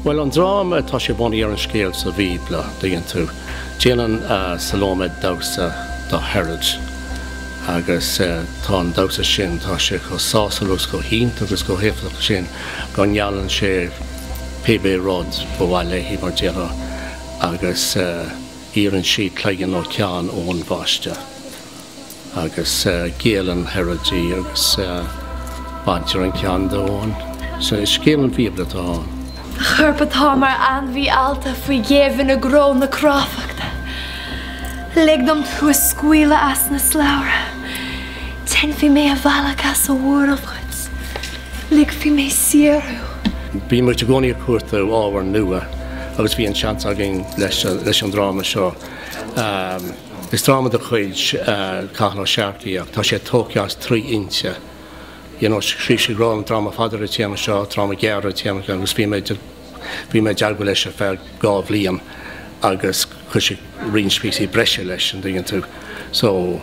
Bhuel, an dráma, tá sé bunaithe ar an scéal sa Bhíobla, tuigeann tú. Déanann Salóimé damhsa do Herod agus tá an damhsa sin, tá sé chomh sásúil agus chomh hiontach agus chomh héifeachtach sin go ngeallann sé pébé rud ba mhaith léi mar déarfá agus iarrann sí cloigeann nó ceann Eoin Baiste. agus géilleann Herod di agus baintear an ceann de Eoin. So is scéal ón mBíobla atá ann. A chorp atá mar ainmhí allta faoi ghéibheann i gcró na cráifeachta. Lig dom tú a scaoileadh as na slabhraí. Déanfaidh mé an bealach as an bhuarach duit. Ligfidh mé saor thú. Bhí muid i gcónaí ag cuartú ábhair nua agus bhí an seans againn leis an dráma seo. Is dráma de chuid Cathal Ó Searcaigh ach tá sé tógtha as trí fhoinse. You know, scríobh sé roimhe dráma fada ar an téama seo, dráma gearr ar an téama seo agus bhí mé ag déileáil leis ar feadh dhá bhliain agus chuir sé roinnt píosaí breise leis, an dtuigeann tú. So,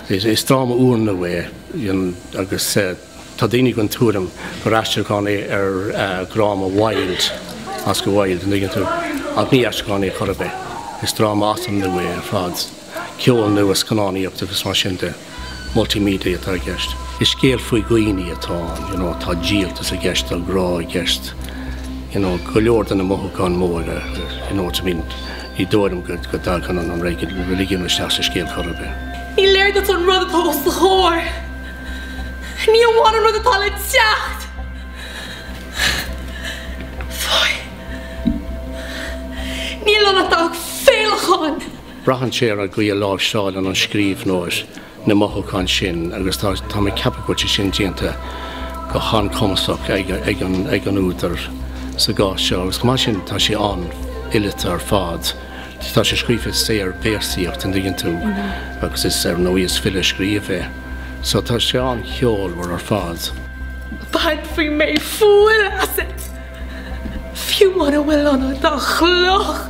is dráma úrnua é, you know, agus. Tá daoine den tuairim gur aistriúchán é ar dhráma Wilde, Oscar Wilde, an dtuigeann tú, ach ní aistriúchán é chor ar bith. Is dráma as an nua é ar fad. Ceol nua, scannánaíocht agus mar sin de, multimedia atá i gceist. Is scéal faoi dhaoine atá ann, you know, tá díoltas i gceist, tá grá i gceist, you know, go leor de na mothúcháin mhóra, you know what I mean. Ní dóigh liom go dtagann an reiligiún isteach sa scéal chor ar bith. Ní léir duit an rud atá os do chomhair. Ní amháin an rud atá le teacht! Fáidh. Níl ann ach dath falacháin! Braitheann sé ar an gcaoi a láimhseáileann an scríbhneoir na mothúcháin sin agus tá mé ag ceapadh go bhfuil sé sin déanta go han-chumasach ag an údar sa gcás seo agus mar sin tá sé an-fhileata ar fad. Tá sé scríofa i saorvéarsaíocht, an dtuigeann tú, agus is, ar ndóigh, is file a scríobh é, so tá sé an-cheolmhar ar fad. Bainfidh mé fuil asat, fiú mura bhfuil ionat ach cloch!